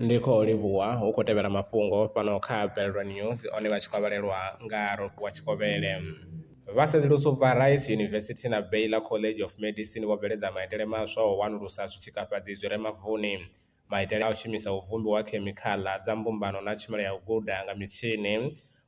Ndi khou livhuwa hu khou tevhela mafhungo fhano kha Bellville News one vha tshi khou vhalelwa nga Rofhiwa Tshikovhele. Vha sedzulusa u bva Rice University na Baylor College of Medicine vho bveledza maitele maswa o wanulusa zwi tshikafhadzi zwi re mavuni, maitele a u shumisa u vhumbiwa khemikhaḽa dza mbumbano na tshumelo ya u guda nga mitshini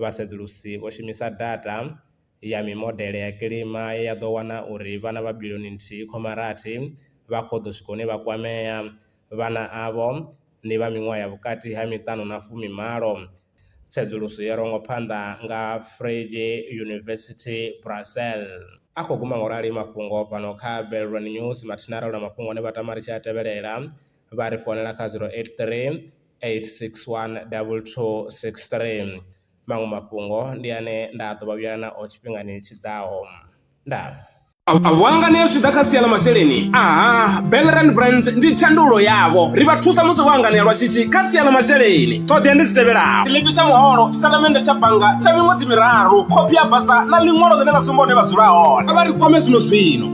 vhasedzulusi vho shumisa data ya mimodele ya kilima ye ya ḓo wana uri vhana vha biḽioni nthihi khoma rathi vha khou ḓo swika hune vha kwamea. Vhana avho ndi vha miṅwaha ya vhukati ha miṱanu na fumimalo. Tsedzuluso yo rongwa phanḓa nga Vrije University Brussels. A khou guma ngorali mafhungo fhano kha Belron News mathina ro na mafhungo ane vha tama ri tshi a tevhelela vha ri founela kha 083. 861 2263. Maṅwe mafhungo ndi ane nda ḓo vha vhuyela nao tshifhingani tshi ḓaho. Ndaa. A vho hanganea zwi tshi ḓa kha sia ḽa masheleni? Aha, Bellerand Brands ndi thandululo yavho. Ri vha thusa musi vho hanganea lwa shishi kha sia ḽa masheleni. Ṱhoḓea ndi dzi tevhelaho. Tshiḽipi tsha muholo, tshitatamennde tsha bannga tsha miṅwedzi miraru, khophi ya basa na ḽiṅwalo ḽine ḽa sumba hune vha dzula hone. Kha vha ri kwame zwino zwino.